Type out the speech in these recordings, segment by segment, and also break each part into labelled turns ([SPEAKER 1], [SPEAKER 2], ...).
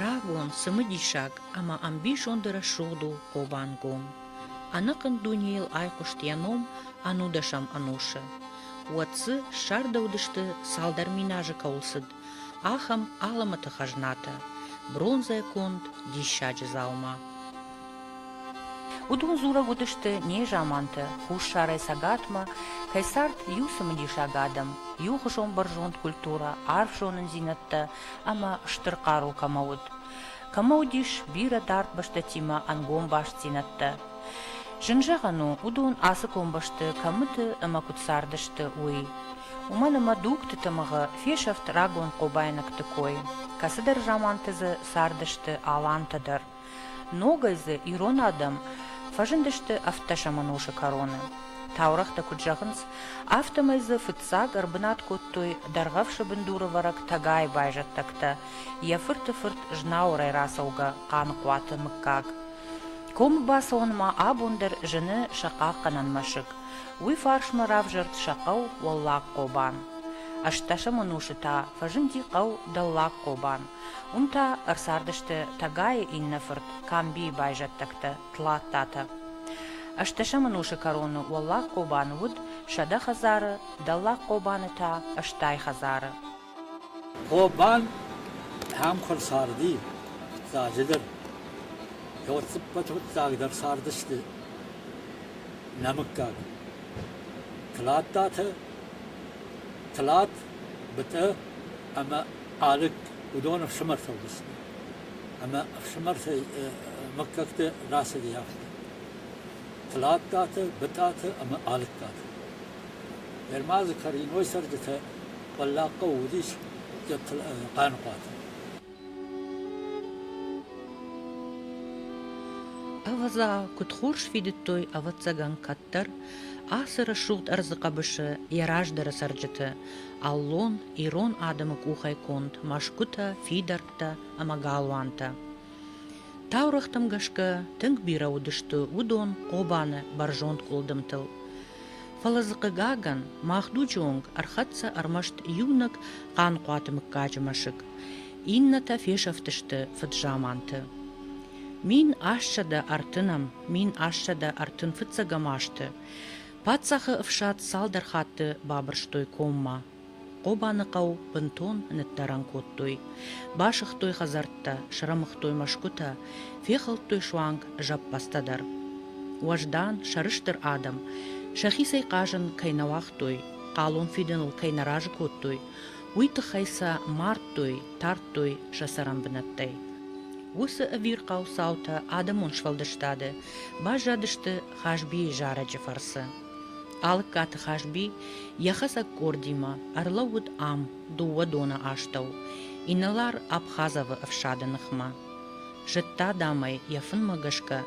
[SPEAKER 1] Рагон цымыдисаг ӕмӕ ӕмбизонды рӕсугъд у Хъобангом. Ӕнӕхъӕн дунейыл айхъуыст йӕ ном ӕнудӕсӕм ӕнусы. Уӕд дзы ссардӕуыдысты, цалдӕр минажы кӕуыл цыд, ахӕм алымыты хӕзнатӕ бронзӕ конд диссаджы дзаума. Уыдон дзурӕг уыдысты незамантӕ хуссарӕй цӕгатмӕ кӕй цард иу цымыдисаг адӕм, иухуызон бӕрзонд культурӕ, арф зонындзинӕдтӕ ӕмӕ стыр хъару кӕмӕ уыд. Кӕмӕ уыдис бирӕ дард бӕстӕтимӕ ӕнгом бастдзинӕдтӕ. Зын зӕгъӕн у, уыдон ацы комбӕсты кӕмыты ӕмӕ куыд цардысты, уый. Уымӕн ӕмӕ дугты тымыгъы фесӕфт рагон хъобайнӕгты кой. Кӕцыдӕр заманты дзы цардысты алантӕ дӕр. Ногӕй дзы ирон адӕм фӕзындысты ӕфтдӕсӕмон усы кӕроны. Таурӕгътӕ куыд зӕгъынц, афтӕмӕй дзы фыццаг ӕрбынат кодтой дӕргъӕвсы бындурӕвӕрӕг Тӕгайы байзӕддӕгтӕ, йӕ фырты фырт Знауырӕй рацӕугӕ Хъаныхъуаты мыггаг. Комбӕсонмӕ абон дӕр зыны сӕ хъахъхъӕнӕн мӕсыг. Уый фарсмӕ равзӕрд сӕ хъӕу Уӕллагхъобан. Ӕстдӕсӕм ӕнусы та фӕзынди хъӕу Дӕллагхъобан. Уым та ӕрцардысты Тӕгайы иннӕ фырт Камбийы байзӕддӕгтӕ Тлаттатӕ. Ӕстдӕсӕм ӕнусы кӕроны Уӕллагхъобан уыд сӕдӕ хӕдзары, Дӕллагхъобаны та ӕстай хӕдзары. Хъобан ӕм куы рцарди, фыццаджыдӕр, фӕлццыппӕт фыццагдӕр цардысты нӕ мыггаг Тлаттатӕ, Тлат, Бытъы ӕмӕ Алыг уыдон ӕфсымӕр фӕлдысты ӕмӕ ӕфсымӕртӕй мыггӕгты рацыди афтӕ. Тлаттаты, Бытъаты ӕмӕ Алыгтаты. Ермазы Кариной цӕрджытӕ Пъаллахъхъа уыдис Хъаныхъуаты. Ӕвӕдза, куыд хорз фидыдтой, ӕвӕццӕгӕн, кӕддӕр ацы рӕсугъд ӕрдзы хъӕбысы йӕ раздӕры цӕрджыты, аллон, ирон адӕмы къухӕй конд мӕсгуытӕ, фидӕрттӕ ӕмӕ галуантӕ. Таурӕгътӕм гӕсгӕ тынг бирӕ уыдысты уыдон Хъобаны бӕрзонд къуылдымтыл. Фӕлӕ дзы, хъыгагӕн, мах дуджы онг ӕрхӕццӕ ӕрмӕст иунӕг Хъанхъуаты мыггаджы мӕсыг, иннӕтӕ фесӕфтысты фыдзаманты. Мин ассӕдӕ ӕртынӕм, мин ассӕдӕ ӕртын фыццӕгӕм азты паддзахы ӕфсад цалдӕр хатты бабырстой коммӕ. Хъобаныхъӕу бынтон ныддӕрӕн кодтой. Басыгътой хӕдзӕрттӕ, срӕмыгътой мӕсгуытӕ, фехӕлдтой суанг зӕппӕдзтӕ дӕр. Уӕздан, сӕрыстыр адӕм сӕхицӕй хъазын кӕй нӕ уагътой, хъалон фидыныл кӕй нӕ разы кодтой, уый тыххӕй сӕ мардтой, тардтой сӕ цӕрӕн бынӕттӕй. Уыцы ӕвирхъау цаутӕ адӕмон сфӕлдыстады баззадысты Хазбийы зарӕджы фӕрцы. Алыккаты Хазби йӕхӕцӕг къордимӕ ӕрлӕууыд ам дыууӕ доны астӕу, инӕлар Абхазовы ӕфсады ныхмӕ. Зыдта, дам ӕй йӕ фынмӕ гӕсгӕ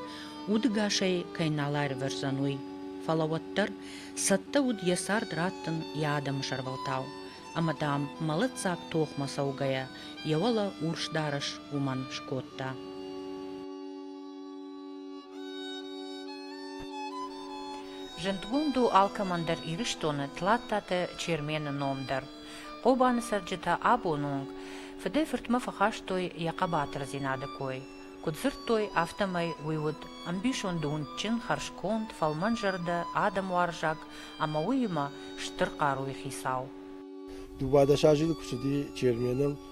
[SPEAKER 1] удыгасӕй кӕй нал аирвӕздзӕн, уый. Фӕлӕ уӕддӕр цӕттӕ уыд йӕ цард раттын йӕ адӕмы сӕрвӕлтау, ӕмӕ, дам, мӕлӕтдзаг тохмӕ цӕугӕйӕ, йӕ уӕлӕ урс дарӕс уымӕн скодта. Зындгонд у алкӕмӕн дӕр Ирыстоны Тлаттаты Чермены ном дӕр. Хъобаны цӕрджытӕ абон онг фыдӕй-фыртмӕ фӕхастой йӕ хъӕбатырдзинады кой. Куыд дзырдтой, афтӕмӕй уый уыд ӕмбисонды уындджын, хӕрзконд, фӕлмӕнзӕрдӕ, адӕмуарзаг ӕмӕ уыимӕ стыр хъаруйы хицау. Дыууадӕс азы куы цыди Черменыл,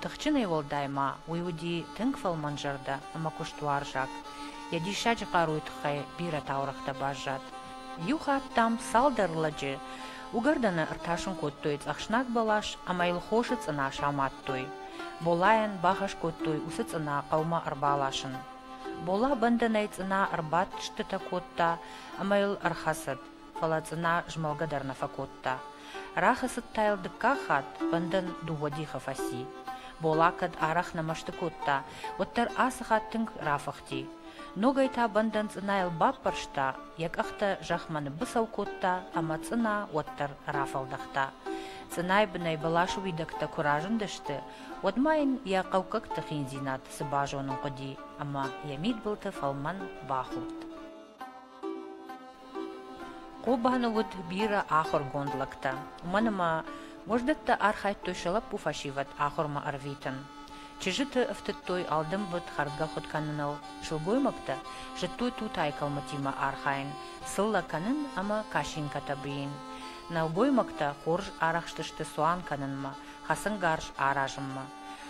[SPEAKER 1] Тыхджынӕй уӕлдай ма уый уыди тынг фӕлмӕнзӕрдӕ ӕмӕ куыстуарзаг. Йӕ диссаджы хъаруйы тыххӕй бирӕ таурӕгътӕ баззад. Иу хатт, дам, цалдӕр лӕджы уыгӕрдӕны ӕртасын кодтой цъӕхснаг бӕлас ӕмӕ йыл хосы цъына самадтой. Болайӕн бахӕс кодтой уыцы цъына хъӕумӕ ӕрбаласын. Бола бӕндӕнӕй цъына ӕрбадтыстытӕ кодта ӕмӕ йыл ӕрхӕцыд. фӕлӕ цъына змӕлгӕ дӕр нӕ фӕкодта. Рахӕцыдта йыл дыккаг хатт, бӕндӕн дыууӕ дихы фӕци. Бола кӕд арӕх нӕ мӕсты кодта, уӕддӕр ацы хатт тынг рафыхти. Ногӕй та бӕндӕн цъынайыл баппӕрста, йӕ къӕхтӕ зӕхмӕ ныббыцӕу кодта ӕмӕ цъына уӕддӕр рафӕлдӕхта. Цъынайы бынӕй бӕласы уидӕгтӕ куы разындысты, уӕд ма йын йӕ хъӕуккӕгты хиндзинад цы базонын хъуыди ӕмӕ йӕ мидбылты фӕлмӕн бахудт. Хъобаны уыд бирӕ ахуыргонд лӕгтӕ, уымӕн ӕмӕ Гуырдзыдӕттӕ архайдтой сӕ лӕппу фӕсивӕд ахуырмӕ ӕрвитын. Чызджыты ӕфтыдтой алдымбыд хӕрдгӕ хуыд кӕныныл, сылгоймӕгтӕ зыдтой тутайы кӕлмытимӕ архайын, сыллӕ кӕнын ӕмӕ кашинкӕтӕ бийын. Нӕлгоймӕгтӕ хорз арӕхстысты цуан кӕнынмӕ, хӕцынгарз аразынмӕ.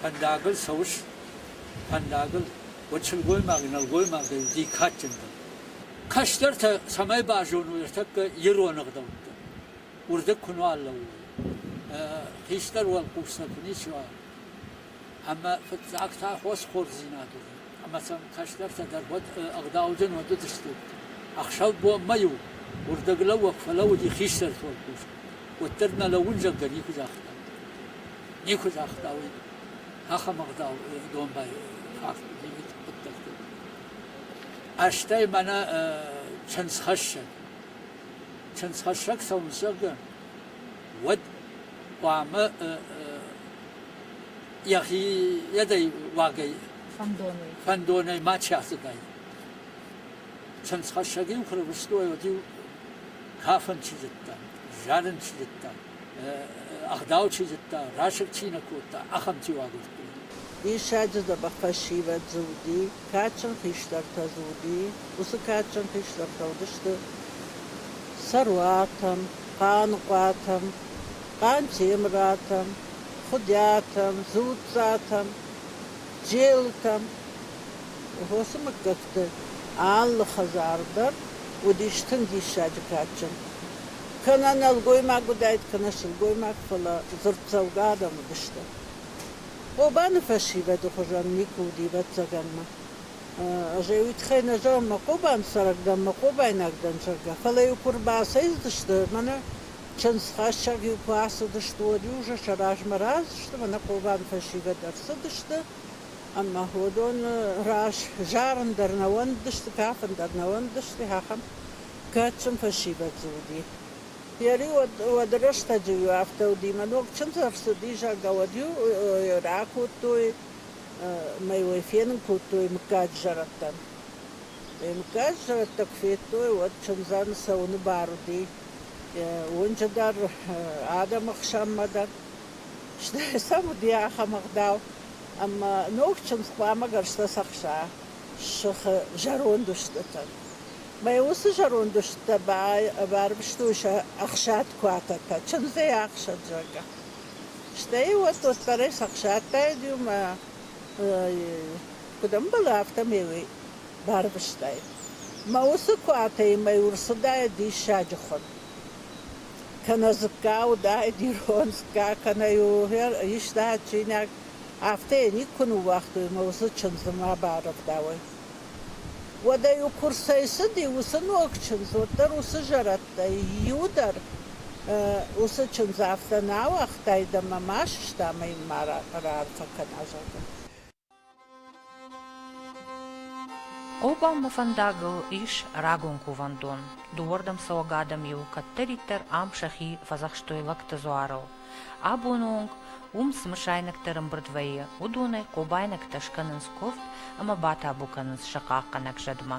[SPEAKER 1] Фӕндагыл цӕуыс? Фӕндагыл? Уӕд сылгоймаг, нӕлгоймагӕй уыди кадджындӕр. Кӕстӕртӕ цӕмӕй базоной ӕртӕккӕ ирон ӕгъдӕуттӕ, уырдыг куы нуал лӕууой, хистӕр уӕлхъустӕ куы ничи уа, ӕмӕ фыццаг та хосхордзинад уыди, ӕмӕ сӕм кӕстӕртӕ дӕр уӕд ӕгъдауджын уыдысты. Ӕхсӕв-бонмӕ-иу уырдыглӕууӕг фӕлӕууыди хистӕрты уӕлхъус, уӕддӕр нӕ лӕууынзӕгдӕр никуы загъта. никуы загъта уый ахӕм ӕгъдау домбай хъуыддӕгты. Астӕй мӕнӕ чындзхӕссӕг. Чындзхӕссӕг цӕуынц, зӕгъгӕ, уӕд хъуамӕ йӕхи йӕдӕй уагӕй фӕндонӕй фӕндонӕй мачи ацыдаид. Чындзхӕссӕг-иу куы рвыстой, уӕд-иу кафын чи зыдта, зарын чи зыдта, ӕгъдау чи зыдта, расыг чи нӕ кодта, ахӕм тиуадзут уыди. Диссаджы дзӕбӕх фӕсивӕд дзы уыди, кадджын хистӕртӕ дзы уыди, уыцы кадджын хистӕртӕ уыдысты Цӕруатӕм, Хъаныхъуатӕм, Хъантемыратӕм, Хуыдиатӕм, Дзуццатӕм, Джелытӕм, Хосы мыггӕт хӕдзӕртты алы хӕдзар дӕр уыдис тынг диссаджы кадджын. Кӕнӕ нӕлгоймаг уыдаид, кӕнӕ сылгоймаг, фӕлӕ дзырддзӕугӕ адӕм уыдысты. Хъобаны фӕсивӕды хуызӕн никуы уыди ӕвӕццӕгӕнмӕ. Ӕз ӕй уый тыххӕй нӕ зӕгъын, мӕ Хъобан цӕрӕг дӕн, мӕ Хъобайнаг дӕн, зӕгъгӕ, фӕлӕ-иу куы ӕрбацӕйцыдысты, мӕнӕ чындзхӕссӕг-иу куы ацыдысты, уӕд-иу сӕ сӕ размӕ разы сты, мӕнӕ Хъобаны фӕсивӕд ӕрцыдысты, Ӕмӕ уыдоны раз зарын дӕр нӕ уӕндысты, кафын дӕр нӕ уӕндысты, ахӕм кадджын фӕсивӕд уыди. Ери уӕды рӕстӕджы-иу афтӕ уыди, мӕ ног чындз ӕрцыди, зӕгъгӕ, уӕд-иу йӕ ракодтой мӕ йыл ӕй фенын кодтой мыггаг зӕрӕдтӕн. Йӕ мыггаг зӕрӕдтӕ куы федтой, уӕд чындзӕн цӕуыны бар уыди уынджы дӕр, адӕмы хсӕнмӕ дӕр. Сӕм уыди ахӕм ӕгъдау, ӕмӕ ног чындз хъуамӕ гӕрзтӕ цӕхса сыхы зӕронд устытӕн. Мӕ уыцы зӕронд устытӕ баӕрвыстой сӕ ӕхсад куатӕтӕ, чындзӕй ӕхсад, зӕгъгӕ. Стӕй уӕд уӕддӕрӕй сӕхсадтаид-иу мӕ куыд ӕмбӕлы, афтӕмӕй уый барвыстаид. Мӕ уыцы куатӕимӕ-иу ӕрцыдаид диссаджы хуын. кӕнӕ дзыкка уыдаид ирон дзыкка, кӕнӕ иу иста чинӕг, афтӕ йӕ никуы ныууагътой ӕмӕ уыцы чындзы ма барӕвдауӕй. Уӕдӕ-иу курсӕй цыди уыцы ног чындз, уӕддӕр уыцы зӕрӕдтӕй иу дӕр уыцы чындз афтӕ нӕ ауагътаид ӕмӕ ма сыста ӕмӕ йын ма раарфӕ кӕна, зӕгъгӕ. Обамы фӕндагыл ис рагон кувӕндон. Дыууӕрдӕм цӕуӕг адӕм-иу кӕддӕриддӕр ам сӕхи фӕдзӕхстой лӕгты дзуарыл. Абоны онг уым цы мысайнӕгтӕ ӕрӕмбырд вӕййы, уыдонӕй хъобайнӕгтӕ скӕнынц куывд ӕмӕ батабу кӕнынц сӕ хъахъхъӕнӕг зӕдмӕ.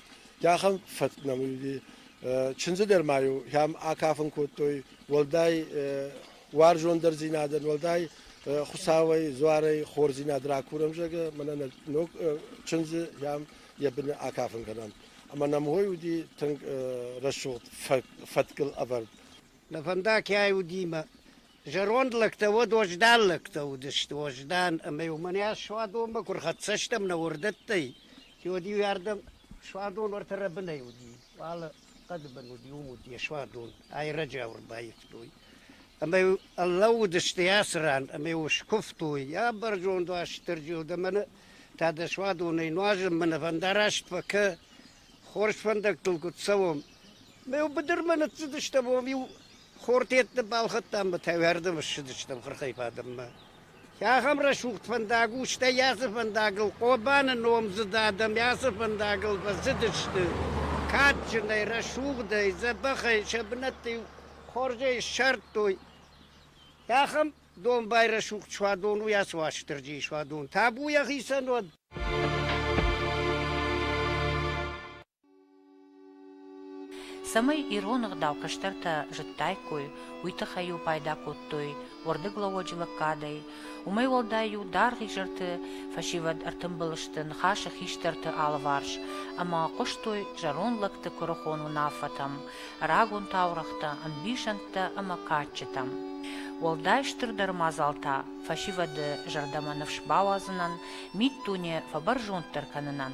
[SPEAKER 1] Ахӕм фӕтк нӕм уыди. Чындзы дӕр ма-иу ӕм акафын кодтой, уӕлдай уарзондӕрдзинадӕн, уӕлдай Хуыцауӕй, дзуарӕй хорздзинад ракурӕм, зӕгъгӕ, мӕнӕ нӕ ног чындзы ӕм йӕ быны акафын кӕнӕм. Ӕмӕ нӕм уый уыди тынг рӕсугъд фӕткыл ӕвӕрд. Нӕ фӕндаг кӕй уыди мӕ Зӕронд лӕгтӕ уӕд уӕздан лӕгтӕ уыдысты, уӕздан, ӕмӕ-иу мӕнӕ суадонмӕ куы рхӕццӕ стӕм нӕ уырдӕттӕй, уӕд-иу ардӕм суадон ӕртӕ рӕбынӕй уыди, алы хъӕды бын уыди, уым уыди йӕ суадон, айрӕджы ӕрбаивтой. Ӕмӕ-иу лӕууыдысты ацы ран, ӕмӕ-иу скуывтой, йӕ бӕрзонд Уастырджи, дӕ мӕнӕ та дӕ суадонӕй нуазын мӕнӕ фӕндараст фӕкӕ, хорз фӕндӕгтыл куыд цӕуӕм. Мӕ-иу быдырмӕ ныццыдыстӕм, уым-иу Хортетты балхӕдтам ӕмӕ тӕвӕрдӕм ссыдыстӕм хырхӕй бадынмӕ. Ахӕм рӕсугъд фӕндаг у, стӕй ацы фӕндагыл Хъобаны номдзыд адӕм ацы фӕндагыл фӕцыдысты. Кадджынӕй, рӕсугъдӕй, дзӕбӕхӕй сӕ бынӕтты-иу хорзӕй ссардтой. Ахӕм домбай рӕсугъд суадон у ацы Уастырджийы суадон. Табу йӕхицӕн уӕд! Цӕмӕй ирон ӕгъдау кӕстӕртӕ зыдтаиккой, уый тыххӕй-иу пайда кодтой уӕрдыглӕууӕджы лӕггадӕй. Уымӕй уӕлдай-иу даргъ изӕрты фӕсивӕд ӕртымбыл сты ныхасы хистӕрты алыварс ӕмӕ хъуыстой зӕронд лӕгты куырыхон уынаффӕтӕм, рагон таурӕгътӕ, ӕмбисӕндтӕ ӕмӕ кадджытӕм. Уӕлдай стырдӕр мадзал та фӕсивӕды зӕрдӕмӕ ныфс бауадзынӕн, миддуне фӕбӕрзонддӕр кӕнынӕн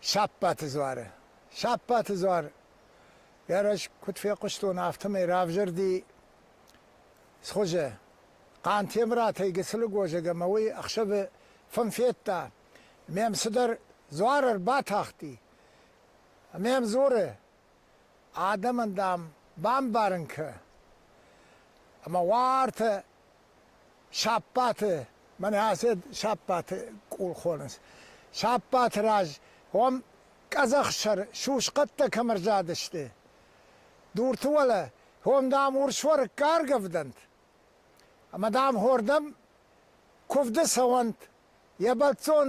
[SPEAKER 1] Саппаты дзуары. Саппаты дзуар йӕ раз куыд фехъуыстон, афтӕмӕй равзӕрди схуызы. Хъантемыратӕй Гыцылы гозӕг ӕмӕ уый ӕхсӕвы фын федта. Мӕм цыдӕр дзуар ӕрбатахти. Мӕм дзуры, адӕмӕн, дам, бамбарын кӕ. Ӕмӕ уартӕ Саппӕты, мӕнӕ ацы саппӕты къул хонынц. Саппӕты раз уым къӕдзӕхсӕр сусхъӕдтӕ кӕм ӕрзадысты, дурты уӕлӕ, уым, дам, урсуӕрыкк аргӕвдӕнт. Ӕмӕ, дам, хордӕм куывды цӕуӕнт, йӕ бӕлццон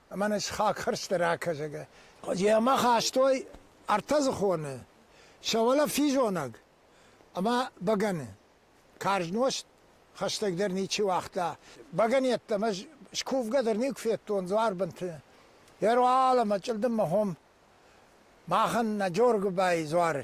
[SPEAKER 1] Мӕнӕ схагхӕрзтӕ ракӕс, зӕгӕ. Йӕ мах хастой ӕртӕдзыхоны, сӕ уӕлӕ физонӕг ӕмӕ бӕгӕны. Карз нозт хӕстӕгдӕр ничи уагъта. Бӕгӕн йеддӕмӕ скувгӕ дӕр никуы федтон дзуарбынты. Ӕруал ӕмӕ чъылдыммӕ хуым махӕн нӕ Джоргуыбайы дзуары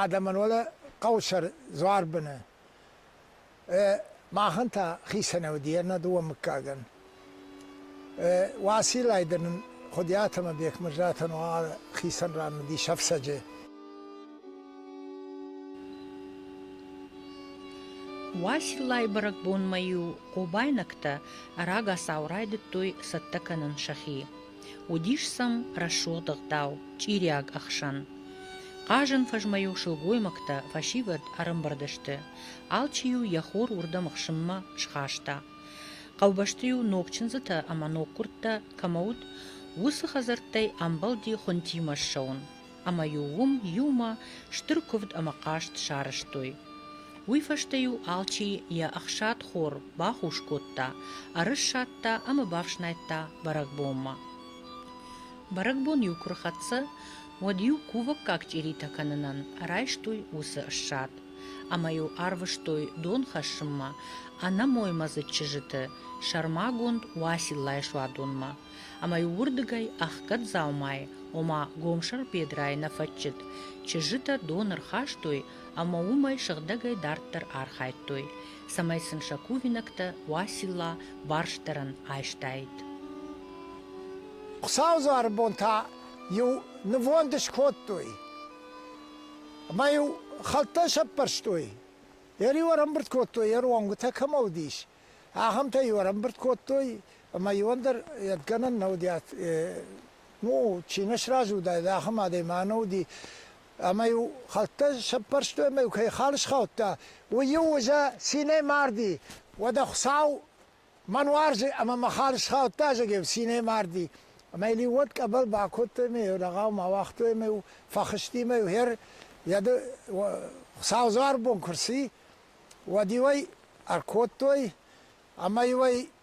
[SPEAKER 1] Адӕмӕн уӕлӕ хъӕусӕр дзуар быны. Махӕн та хицӕнӕй уыди ӕртӕ дыууӕ мыггагӕн. Уациллайы дӕр нын Хуыдиат ӕмӕ Бекмӕзатӕн уал хицӕн ран уыдис ӕфцӕджы. Уациллайы бӕрӕгбонмӕ-иу хъобайнӕгтӕ ӕрӕгасау райдыдтой цӕттӕ кӕнын сӕхи. Уыдис сӕм рӕсугъд ӕгъдау, чъириаг ӕхсӕн. Хъазӕн фӕзмӕ-иу сылгоймӕгтӕ фӕсивӕд ӕрӕмбырд сты, алчи-иу йӕ хор уырдӕм ӕхсынмӕ схаста. Хъӕубӕсты-иу ног чындзытӕ ӕмӕ ног хъуырттӕ кӕмӕ уыд, уыцы хӕдзӕрттӕй амбӕлди хуынтимӕ ссӕуын. ӕмӕ-иу уым иумӕ стыр куывд ӕмӕ хъазт сарӕзтой. Уый фӕстӕ-иу алчи йӕ ӕхсадхор бахус кодта, ӕрыссадта ӕмӕ бафснайдта бӕрӕгбонмӕ. Бӕрӕгбон-иу куы рхӕццӕ, уӕд-иу кувӕггаг чъиритӕ кӕнынӕн райстой уыцы ссад, ӕмӕ-иу арвыстой дон хӕссынмӕ ӕнӕмоймӕдзыд чызджыты сӕрмагонд Уациллайы суадонмӕ. ӕмӕ-иу уырдыгӕй ӕхгӕд дзаумайы, ома гомсӕр бедрайы нӕ фӕччыд, чызджытӕ дон ӕрхастой ӕмӕ уымӕй сыгъдӕгӕй дарддӕр архайдтой, цӕмӕй сын сӕ кувинӕгтӕ Уацилла барстдӕрӕн айстаид. Хуыцаудзуары бон та-иу нывонд скодтой ӕмӕ-иу хӕлттӕ сӕппӕрстой, йӕ риу ӕрӕмбырд кодтой, йӕ ронгуытӕ кӕмӕ уыдис, ахӕмтӕ-иу ӕрӕмбырд кодтой, Ӕмӕ иуӕн дӕр гӕнӕн нӕ уыди, ну, чи нӕ сразы уыдаид, ахӕм адӕймаг нӕ уыди. Ӕмӕ-иу хӕлттӕ сӕппӕрстой ӕмӕ-иу кӕй хал схаудта, уый-иу уызӕ цинӕй марди. Уӕдӕ Хуыцау мӕн уарзы ӕмӕ мӕ хал схаудта, зӕгъӕм, цинӕй марди. Ӕмӕ йыл уӕд къӕбӕл бакодтой ӕмӕ-иу лӕгау ма уагътой ӕмӕ-иу фӕхызти ӕмӕ-иу хӕр, Хуыцау дзуар бон куы рци, уӕд-иу ӕй ӕркодтой, ӕмӕ-иу ӕй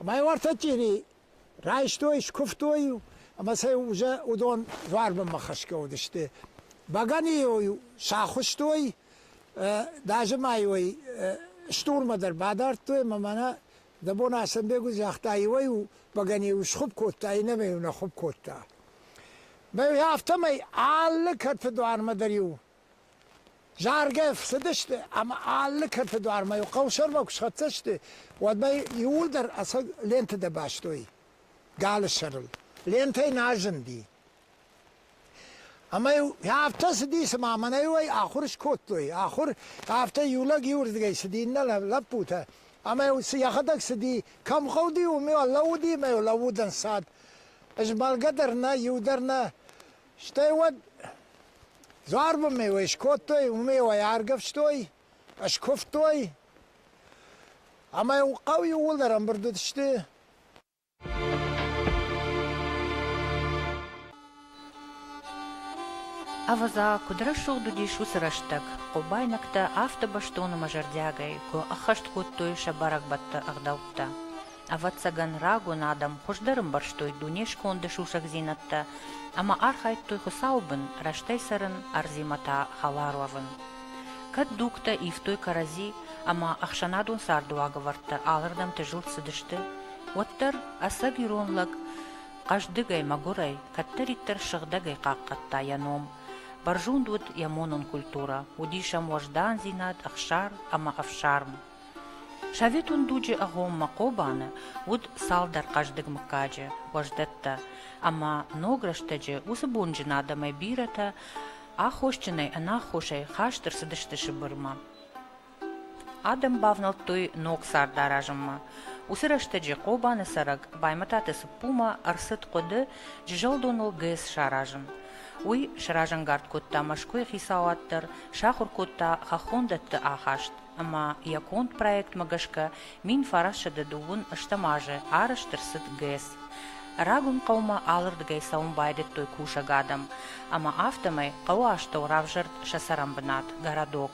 [SPEAKER 1] Ӕмӕ уартӕ тъири райстой, скуывтой ӕмӕ сӕ уже уыдон дзуарбынмӕ хӕсгӕ уыдысты. Бӕгӕныйыл-иу сӕ ахуыстой, даже ма-иу ӕй стурмӕ дӕр бадардтой ӕмӕ мӕнӕ дӕ бон Аслӕнбег уыд, загъта, иуӕй-иу бӕгӕныйыл схуыпп кодта, иннӕмӕй-иу нӕ хуыпп кодта. Мӕ афтӕмӕй алы кӕрты дуармӕ дӕр-иу Заргӕ фцыдысты ӕмӕ алы кӕрты дуармӕ-иу хъӕусӕрмӕ куы схӕццӕ сты, уӕдмӕ иууылдӕр ӕцӕг лентӕтӕ бастой галы сӕрыл. Лентӕ нӕ зынди. Ӕмӕ-иу афтӕ цыди, цыма мӕнӕ-иу ӕй ахуыр скодтой. Ахуыр, афтӕ иу лӕг иуырдыгӕй цыди, иннӕ лӕппутӕ. Ӕмӕ-иу йӕхӕдӕг цыди, кӕм хъӕуыди, уым-иу ӕрлӕууыди ӕмӕ-иу лӕууыд ӕнцад. Змӕлгӕ дӕр нӕ, иу дӕр нӕ. Стӕй уӕд дзуарбын меуӕй скодтой, уымеуӕй аргӕвстой, скуывтой. Ӕмӕ хъӕу иууылдӕр ӕмбырд уыдысты. Ӕвӕдза, куыд рӕсугъд уыдис уыцы рӕстӕг, хъобайнӕгтӕ автобӕстон ӕмӕ зӕрдиагӕй куы ӕххӕст кодтой сӕ бӕрӕгбӕтты ӕгъдӕуттӕ. Ӕвӕццӕгӕн, рагон адӕм хуыздӕр ӕмбӕрстой дуне сконды сусӕгдзинӕдтӕ ӕмӕ архайдтой Хуыцауы бын рӕстӕй цӕрын, ӕрдзимӕ та хӕлар уӕвын. Кӕд дугтӕ ивтой кӕрӕдзи ӕмӕ ӕхсӕнадон царды уагӕвӕрдтӕ алырдӕмты зылд цыдысты, уӕддӕр ӕцӕг ирон лӕг хъӕздыгӕй, мӕгуырӕй, кӕддӕриддӕр сыгъдӕгӕй хъахъхъӕдта йӕ ном. Бӕрзонд уыд йӕ монон культурӕ, уыдис ӕм уӕздандзинад, ӕхсар ӕмӕ ӕфсарм. Советон дуджы агъоммӕ Хъобаны уыд цалдӕр хъӕздыг мыггаджы, уӕздӕттӕ, ӕмӕ ног рӕстӕджы уыцы бонджын адӕмӕй бирӕтӕ аххосджынӕй ӕнаххосӕй хаст ӕрцыдысты Сыбырмӕ. Адӕм бавнӕлдтой ног цард аразынмӕ. Уыцы рӕстӕджы Хъобаны цӕрӕг Баймӕтаты Цыппумӕ ӕрцыд хъуыды джызӕлдоныл ГЭС саразын. Уый сразӕнгард кодта Мӕскуыйы хицауад дӕр, сахуыр кодта хӕххондӕтты ахаст, ӕмӕ йӕ конд проектмӕ гӕсгӕ мин фӕрӕсыды дыууын ӕстӕм азы арӕзт ӕрцыд ГЭС. Рагон хъӕумӕ алырдыгӕй цӕуын байдыдтой кусӕг адӕм, ӕмӕ афтӕмӕй хъӕуы астӕу равзӕрд сӕ цӕрӕнбынат, городок.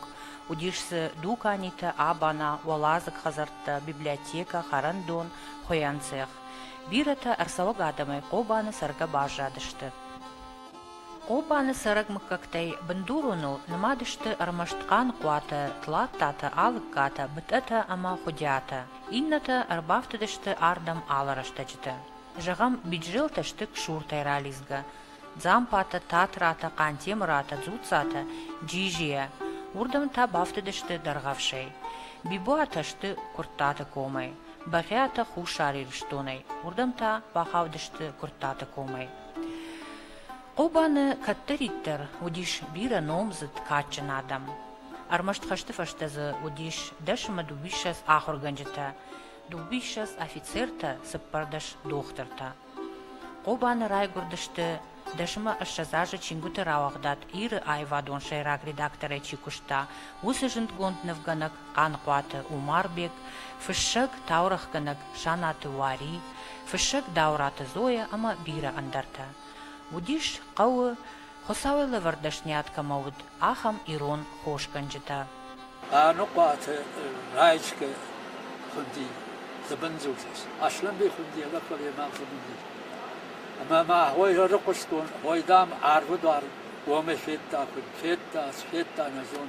[SPEAKER 1] Уыдис дзы дуканитӕ, абана, уӕладзыг хӕдзӕрттӕ, библиотекӕ, хӕрӕндон, хуыйӕн цех. Бирӕтӕ ӕрцӕуӕг адӕмӕй Хъобаны цӕргӕ баззадысты. Хъопаны цӕрӕг мыггӕгтӕй бындуроныл нымад сты ӕрмӕст хъаныхъуатӕ, тлаттатӕ, алыгкатӕ, бытъӕтӕ ӕмӕ хуыдиатӕ, иннӕтӕ ӕрбафтыдысты ардӕм алы рӕстӕджыты. Зӕгъӕм, биджзелтӕ сты ксуртӕй ралидзгӕ, дзампатӕ, татратӕ, хъантемыратӕ, дзуццатӕ, джизийӕ, уырдӕм та бафтыдысты дӕргъӕвсӕй. Бибуатӕ сты Куырттаты комӕй, Бӕгъиатӕ Хуссар Ирыстонӕй, уырдӕм та бахаудысты Куырттаты комӕй. Хъобаны кӕддӕриддӕр уыдис бирӕ номдзыд, кадджын адӕм. Ӕрмӕст хӕсты фӕстӕ дзы уыдис дӕсӕмӕ дыууиссӕдз ахуыргӕнджытӕ, дыууиссӕдз афицертӕ, цыппӕрдӕс дохтыртӕ. Хъобаны райгуырдысты, дӕсӕмӕ ӕссӕдз азы чингуыты рауагъдад Иры аивадон сӕйраг редакторӕй чи куыста, уыцы зындгонд нывгӕнӕг Хъанхъуаты Умарбег, фыссӕг, таурӕгъгӕнӕг Санаты Уари, фыссӕг Дауыраты Зоя ӕмӕ бирӕ ӕндӕртӕ. Уыдис хъӕуы, Хуыцауӕй лӕвӕрд дӕсниад кӕмӕ уыд, ахӕм ирон хосгӕнджытӕ. Хъанхъуаты Раечкӕ хуынди Дзыбындзулис, Аслӕнбей хуынди Елакъвалемӕн Дзыбындис. Ӕмӕ ма Хойрӕрыхъустон, Хой, дам, арвы дуар уомӕ федта, куыд федта, ӕз федта, нӕ зон.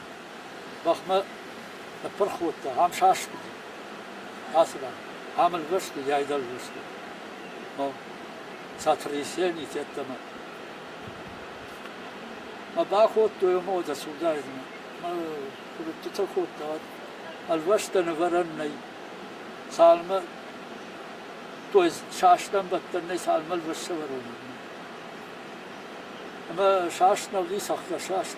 [SPEAKER 1] бӕхмӕ ныппырх кодта, ам саскуыди, ацыдам, ам ӕлвӕсты, йӕ айдӕн лвӕсты, мӕ сотрясение тедтӕмӕ. Мӕ бакодтой ӕмӕ уӕдӕ цудайдзынӕ. Мӕ куывдтытӕ кодта, уӕд ӕлвӕстӕ нывӕрӕн нӕй. Цалмӕ то ӕз састӕн бӕттӕн нӕй, цалмӕ ӕлвӕст сӕвӕрон уыднӕ. Ӕмӕ саст нӕ уыди, цӕхгӕр саст.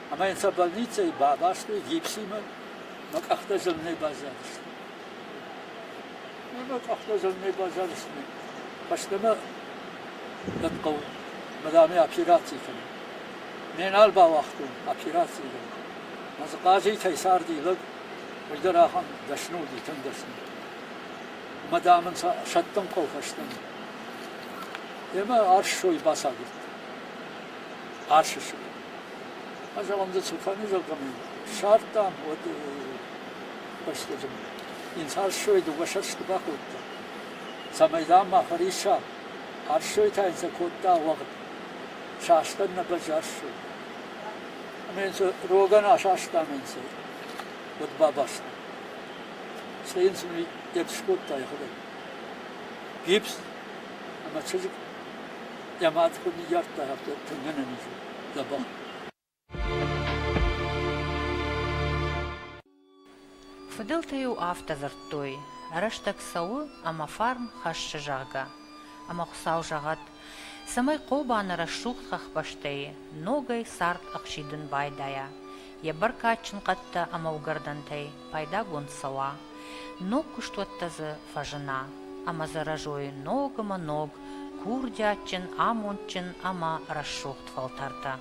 [SPEAKER 1] ӕмӕ йын сӕ больницӕйы бабастой гипсимӕ мӕ къӕхтӕ зырнӕй баззадысты. Мӕ къӕхтӕ зырнӕй баззадысты. Фӕстӕмӕ дӕн хъӕуы мадамӕ операци кӕнын. Ме нал бауагътон операци дӕр. Мӕ дзыхъазитӕй царди лӕг, уый дӕр ахӕм дӕсны уыди, тынг дӕсны. Мадам ын сӕ сӕттын хъӕуы фӕстӕмӕ. Йемӕ арссой бацагуырд. Арсы сыг. Азӕлам дзы цы фӕнизал кӕмӕн сардтам, уӕд фӕстӕдӕр инс арсой дыууӕ сӕрсты бакодта. Цӕмӕй дам ма фӕрисса, арсой та йын сӕ кодта уӕгъд. Састан нӕ бӕз арсой. Ӕмӕ йын сӕ рогӕн асастам йын сӕ уӕд бабаста. Сӕ йын сын епс кодта йӕхӕдӕг. Гипс ӕмӕ чызг Дӕ мадхо ныййардта, афтӕ тынгӕн ын изы дӕ бӕх. Фыдӕлтӕ-иу афтӕ дзырдтой, рӕстӕг цӕуы, ӕмӕ фарн хӕссы, зӕгъгӕ. Ӕмӕ Хуыцау зӕгъӕд, цӕмӕй Хъобаны рӕсугъд хӕхбӕстӕй ногӕй цард ӕхсидын байдайа, йӕ бӕркадджын хъӕдтӕ ӕмӕ уыгӕрдӕнтӕй пайдагонд цӕуа, ног куыстуӕттӕ дзы фӕзына ӕмӕ дзы рӕзой ногмӕ-ног курдиатджын, амондджын ӕмӕ рӕсугъд фӕлтӕртӕ.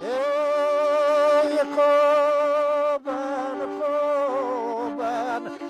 [SPEAKER 1] Е, Кобан, Кобан,